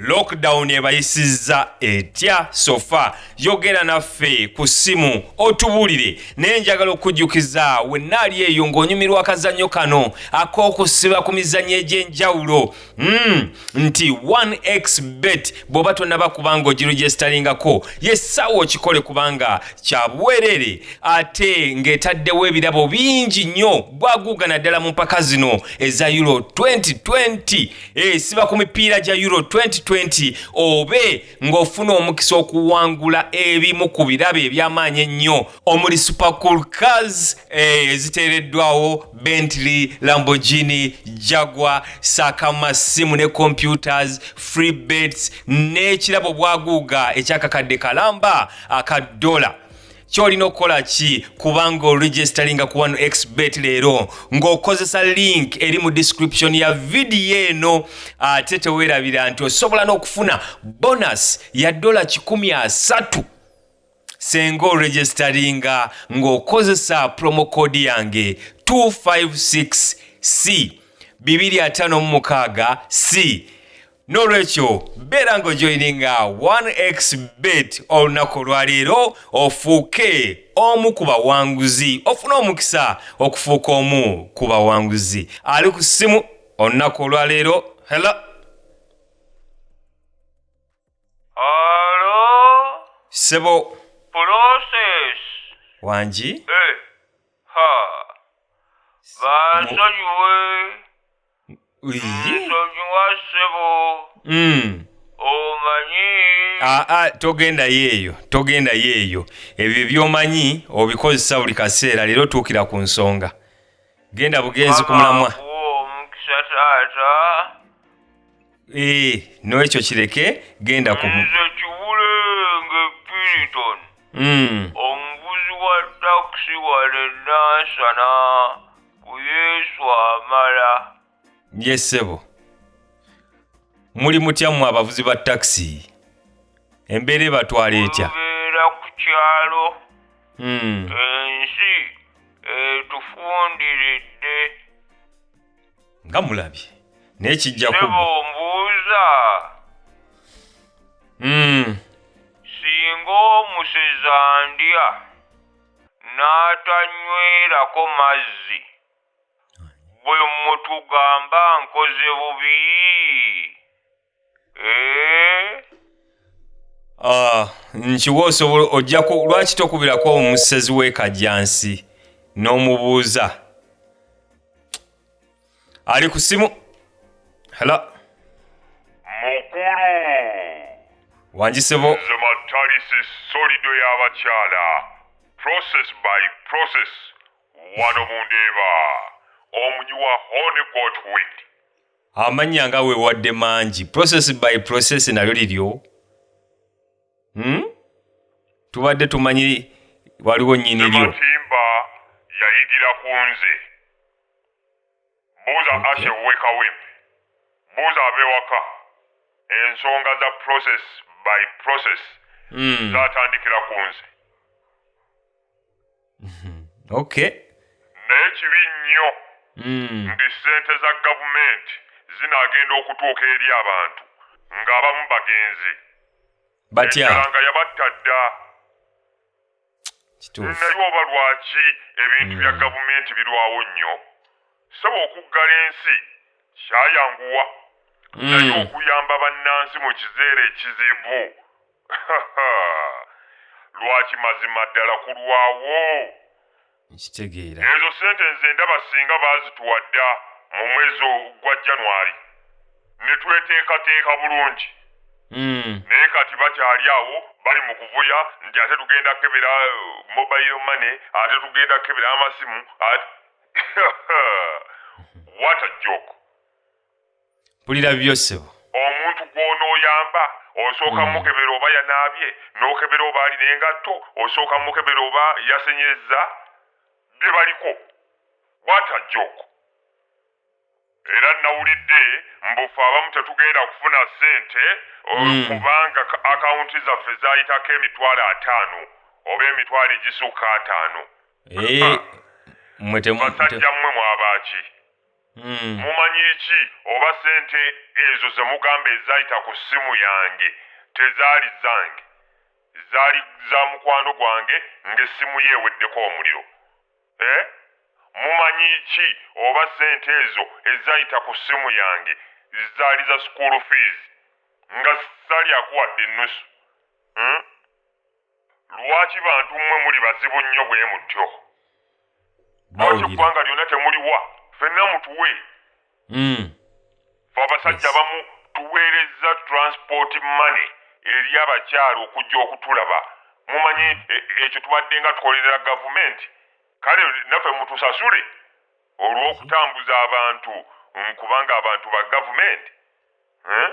Lockdown ebayisizza etya sofa yogera naffe ku ssimu otubuulire naye njagala okujjukiza wenna ali eyo ng'onyumirwa akazannyo kano ak'okusiba ku mizannyo egy'enjawulo mm, nti 1x bet bw'oba tonaba kubanga ogirujestalingako yessaawo okikole kubanga kya bwereere ate ng'etaddewo ebirabo bingi nnyo bwaguuga naddala mu mpaka zino eza euro 2020 Eh, siba ku mipiira gya euro 2020 obe ng'ofuna omukisa okuwangula ebimu ku birabo eby'amaanyi ennyo omuli supercool cars eh, eziteereddwawo bentley lambogini jagwa saaka mu masimu ne computers free bets n'ekirabo bwaguuga ekyakakadde kalamba aka dola kyolina okukola ki kubanga oregistalinga ku one xbet leero ng'okozesa link eri mu description ya vidiyo eno ate teweerabira nti osobola n'okufuna bonus ya dola 13 senga oregistalinga ng'okozesa promocode yange 256 c 256 c n'olwekyo beera ng'ojoyininga 1xbet olunaku olwaleero ofuuke omu ku bawanguzi ofune omukisa okufuuka omu ku bawanguzi ali ku ssimu olunaku olwaleero helo Alo, sebo process. wangi Eh, ha. Bansonyiwe. nsonyiwa ssebo mm. omanyi ah, ah, togendayo eyo togendayo eyo ebyo byomanyi obikozesa buli kaseera leero otuukira ku nsonga genda bugenzi ku mulamwa omukisa taata eh, n'ekyo kireke genda ku nze kibule ng'epiriton mm. omuvuzi wa takisi wale nansana ku yesu amala ye ssebo muli mutya mmwe abavuzi ba takisi embeera ebatwala etya tubeera ku kyalo Hmm. ensi etufundiridde nga mulabye naye kijja sebo kuba mbuuza Hmm. singa omusezi andya n'atanywerako mazzi bwe mutugamba nkoze bubi Eh? Ah, nkiwa osobola ojja ku lwaki tokubirako omusezi w'ekajjansi n'omubuuza ali ku simu hela mukulu wanjisebo nze matalisi solido y'abakyala process by process wano mundeeba omugi wa hone got wit amannya nga wewadde mangi process by process nalyo liryo hmm? tubadde tumanyi waliwo nyini lyo yayigira ku nze buuza okay. ashe wekawempe buuza abewaka ensonga za process by process mm. zatandikira ku nze mhm. okay naye kibi nnyo mm. nti sente za gavumenti zinaagenda okutuuka eri abantu ng'abamu bagenzi batya nga yabatta dda naye oba lwaki ebintu bya hmm. gavumenti birwawo nnyo saba okuggala ensi kyayanguwa hmm. naye okuyamba bannansi mu kiseera ekizibu lwaki mazima ddala kulwawo nkitegeera. Ezo sente nze ndaba singa baazituwa dda mu mwezi ogwa January ne tweteekateeka bulungi hmm. naye kati bakyali awo bali mu kuvuya nti ate tugenda kukebera uh, mobile money ate tugenda kukebera amasimu What a joke. mpulira bibyo ssebo omuntu gw'onooyamba osooka mm. mukebera oba yanaabye n'okebera oba alina engatto osooka mukebera oba yasenyezza bye baliko bwata joko era nawulidde mbufe abamu tetugenda kufuna ssente eh, mm. kubanga akawunti zaffe zayitako emitwalo ataano oba emitwalo egisukka ataano eh, basajja mmwe mwabaaki hmm. mumanyi ki oba sente ezo zemugamba ezayita ku ssimu yange tezaali zange zaali za mukwano gwange ng'essimu ye eweddeko omuliro eh? mumanyi ki oba sente ezo ezayita ku ssimu yange zaali za school fees nga salyakuwadde ennusu hmm? Lwaki bantu mmwe muli bazibu nnyo bwe mutyo? Lwaki eggwanga lyonna temuliwa fenna mutuwe? Hmm. Fe abasajja abamu tuweerezza transport money eri abakyala okujja okutulaba. Mumanyi e, ekyo tubadde nga tukolerera gavumenti, kale naffe mutusasule olw'okutambuza abantu nkubanga abantu ba gavumenti. Hmm?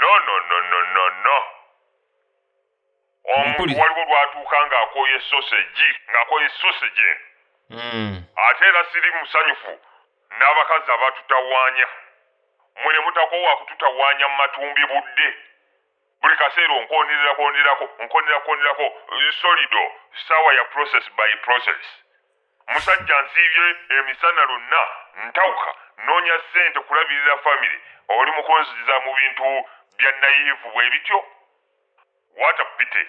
No, no, no, no, no, no. omuntu waliwo lwatuuka ng'akooye sosegi ng'akooye sosegi eno hmm. ate era siri musanyufu n'abakazi abatutawaanya mwe ne mutakoowa kututawaanya mu matumbi budde buli kaseera onkonirirakonirako nkonirakonirako solido saawa ya process by process musajja nsiibye emisana lonna ntawuka noonya ssente kulabirira famire oli mukunziza mu bintu bya nayivu bwe bityo What a pity.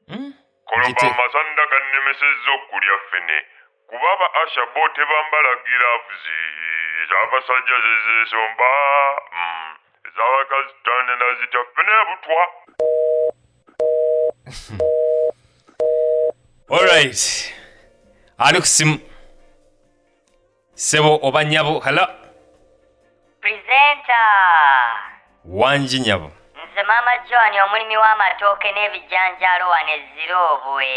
Hmm? Koloba amasanda gannemesezza okulya ffene kuba aba asha bo tebambala giravuzi ez'abasajja zezesomba hmm. ez'abakazi tanda nazita ffene butwa All right. Ali kusimu. sebo oba nyabo hello presenter wanji nyabo nze maama john omulimi w'amatooke n'ebijanjaalo wano eziroobwe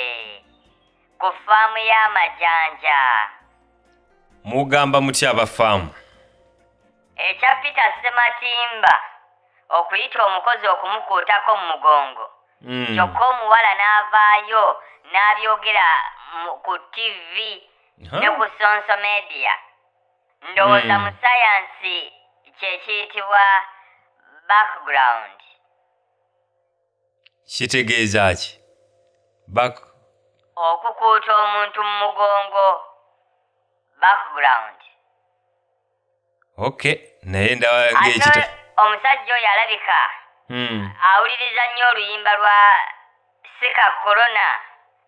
ku faamu y'amajanja mugamba mutya aba faamu ekya peter sematimba okuyita omukozi okumukuutako mu mugongo mm. kyokka omuwala n'avaayo n'abyogera ku ttivi ne ku sonso media ndowooza hmm. mu sayansi kyekiyitibwa background kitegeeza ki back okukuuta omuntu mu mugongo background okay naye ndaba ngekita omusajja oyo alabika hmm. awuliriza nnyo oluyimba lwa sika korona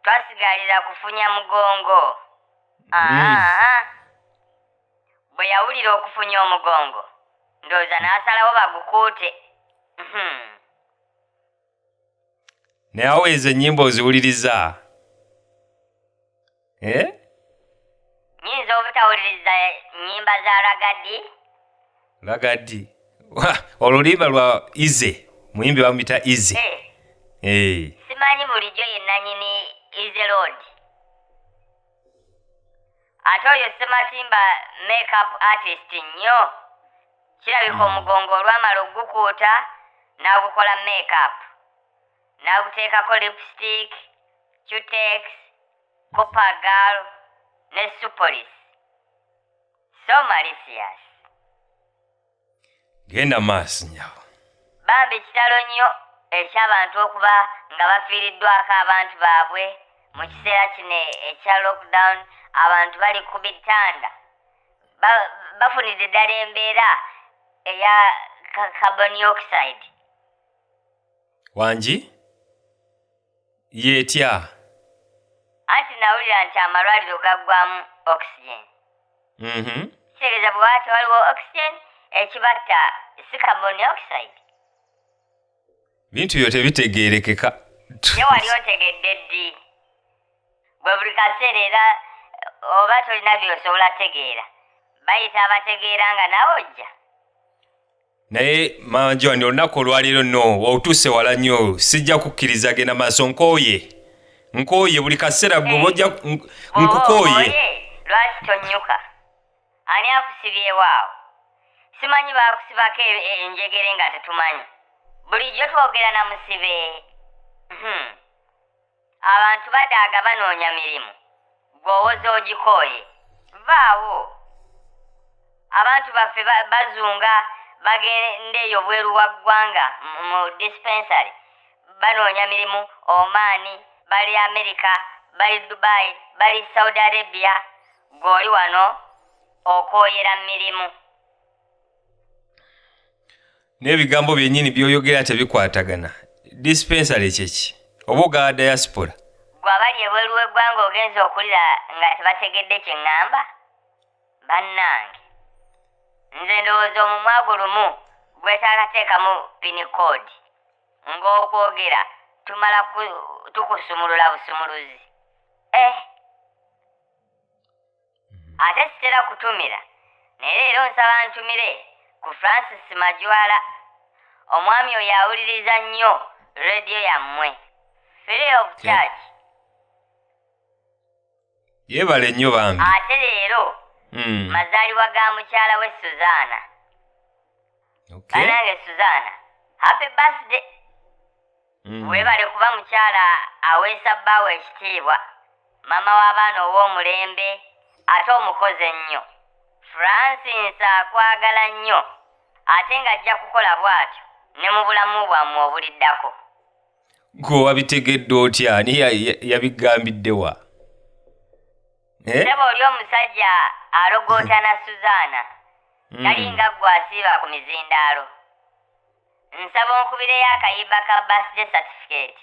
twasigalira kufunya mugongo hmm. bwe yawulira okufunya omugongo ndowooza n'asalawo bagukuute hmm. naye awo ezo ennyimba oziwuliriza eh? nyinza obutawuliriza nyimba za ragadi ragadi olulimba lwa ize muyimbi bamuyita ize hey. Eh. Hey. Eh. simanyi bulijjo yenanyini ize lod ate oyo sematimba makeup artist nnyo kirabika hmm. omugongo olwamala okugukuuta n'agukola makeup nakuteekako lipstick cutex copagal ne supolis so malicious genda maaso nyabo bambi kitalo nnyo eky'abantu okuba nga bafiiriddwako abantu baabwe mu kiseera kino ekya lockdown abantu bali ku bitanda bafunidde ddala embeera eya carbon oxide wangi yetya anti nawulira nti amalwaliro gaggwamu oxygen mhm. kitegeeza bwewati waliwo oxygen ekibatta si carbon dioxide bintu byo tebitegeerekeka ye wali otegedde ddi bwe buli kaseera era eh, oba tolina byosobola tegeera bayita abategeera nga nawe ojja naye mama john olunaku olwaleero no wautuuse wala nnyo sijja kukkiriza genda maaso nkooye nkooye buli kaseera gwe bojja eh. nkukooye lwaki tonnyuka ani akusibyewaawo simanyi baakusibako e, e, enjegere nga tetumanyi bulijjo twogera na musibe hmm. abantu badaaga banoonya mirimu gweowoza ogikooye vaawo abantu baffe bazunga bagenda eyo bweru wa ggwanga mu dispensary banoonya mirimu omaani bali amerika bali dubai bali saudi arabia gweoli wano okooyera mirimu n'ebigambo byennyini by'oyogera tebikwatagana dispensale kyeki oba ogaa diaspora gwe abali ebweru w'eggwanga ogenza okulira nga tebategedde kye ŋŋamba bannange nze ndowooza omumwa gwo lumu gwetaakateekamu pini koodi ng'okwogera tumala tukusumulula busumuluzi eh ate sitera kutumira naye leero nsaba ntumire ku francis majwala omwami oyo awuliriza nnyo rediyo yammwe free of charge yeebale nnyo bambi ate leero hmm. mazaalibwa ga mukyala we suzaana banange suzaana happy birthday mm. webale kuba mukyala aweesa bbaawo ekitiibwa maama w'abaana ow'omulembe ate omukozi ennyo francis akwagala nnyo ate ng'ajja kukola bw'atyo ne mu bulamu bwammwe obuliddako gwe wabitegedde otya ani yabigambidde wa eh? seba oli omusajja alogootana suzaana hmm. talinga ggwe asiiba ku mizindaalo Nsaba onkubireyo akayiba ka birthday certificate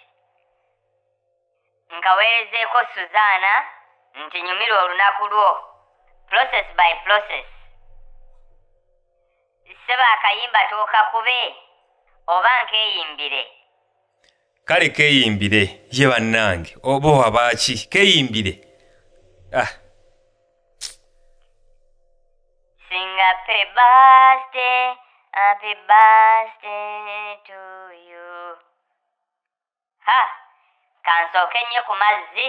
nkaweerezeeko Suzaana nti nyumirwa olunaku lwo process by process. Ssebo akayimba tookakube oba nkeeyimbire. kale keyimbire ye bannange oba wabaaki keyimbire ah. Singa pe birthday, happy birthday to you. Ha! Kansooke nnyo ku mazzi.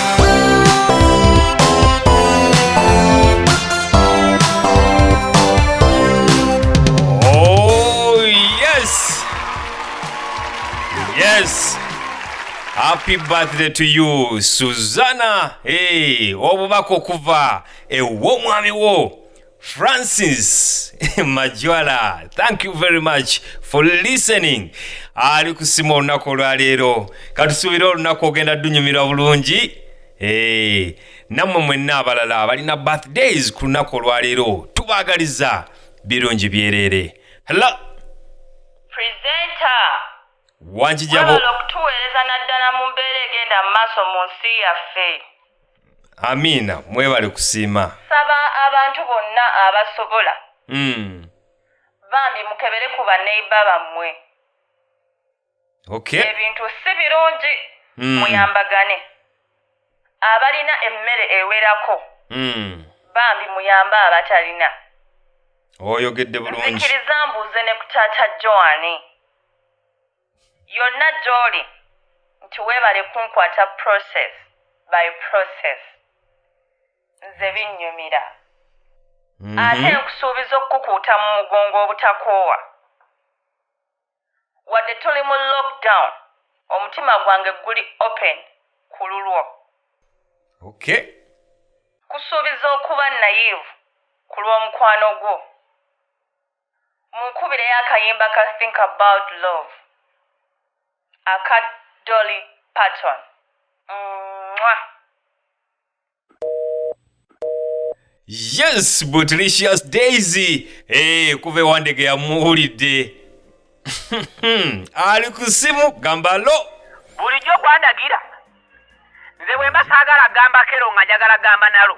happy birthday to you suzana hey, obubaka okuva ew'omwami wo Francis Majwala, thank you very much for listening. Ali kusima olunaku olwaleero, katusuubira olunaku ogenda dunyumirwa bulungi. Hey, eh, nammwe mwenna abalala abalina birthdays ku lunaku olwaleero tubaagaliza birungi byereere. Hello. Presenter. Wanjijabo. Wabala okutuweereza naddala mu mbeera egenda mu maaso mu nsi yaffe. amiina mwebale kusiima saba abantu bonna abasobola mm. bambi mukebere ku baneiba bammwe okay. ebintu si birungi mm. muyambagane abalina emmere ewerako mm. bambi muyambe abatalina oyogedde bulungi nzikiriza mbuuze ne ku taata joani yonna gy'oli nti weebale kunkwata process by process nze binnyumira mhm. ate nkusuubiza okukukuuta mu mugongo obutakoowa wadde tuli mu lockdown omutima gwange guli open ku lulwo okay kusuubiza okuba nayivu ku lw'omukwano gwo munkubireyo akayimba ka think about love aka dolly patton mwa yes butlicious daisy hey, kuva ewandege yamuwulidde ali ku simu gamba lo bulijjo kwandagira nze bwemba saagala gamba kero nga njagala gamba nalo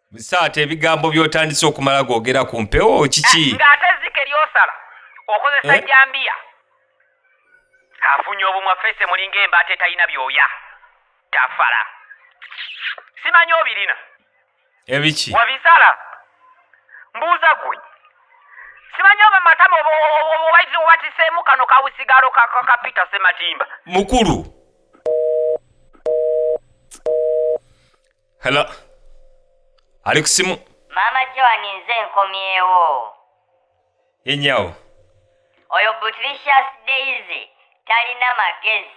musaata ebigambo byotandise okumala gogera ku mpewo kiki eh, ng'ate ezzike lyosala okozesa eh? jambiya afunye obumwa fese mulinga embaata etalina byoya tafala simanyi obirina ebiki wabisala mbuuza gwe simanyi oba matama obatiseemu kano kawusigaalo ka peter sematimba mukulu Hello. Ali ku simu. Maama Joan nze nkomyewo. Ye nyawo. Oyo Butricious Daisy talina magezi.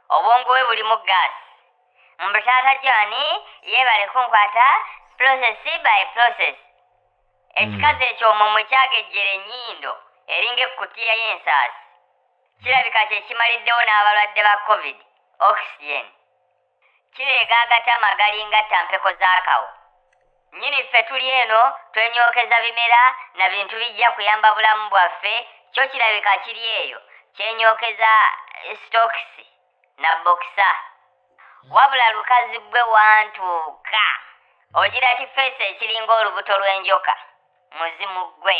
Obwongo bwe bulimu gaasi. Mbu taata Joan yeebale kunkwata process by process. Ekikazi ekyo omwo mwe kyagejjera ennyindo eringa ekkutiya y'ensaasi. Kirabika kye kimaliddewo n'abalwadde ba Covid oxygen. kireega agatama agalinga ttampeko z'akawo nnyini ffe tuli eno twenyokeza bimera na bintu bijja kuyamba bulamu bwaffe kyo kirabika kiri eyo kyenyokeza eh, stokisi na bokisa wabula lukazi gwe wantuuka ogira kifeesi ekiringa olubuto lw'enjoka muzimu gwe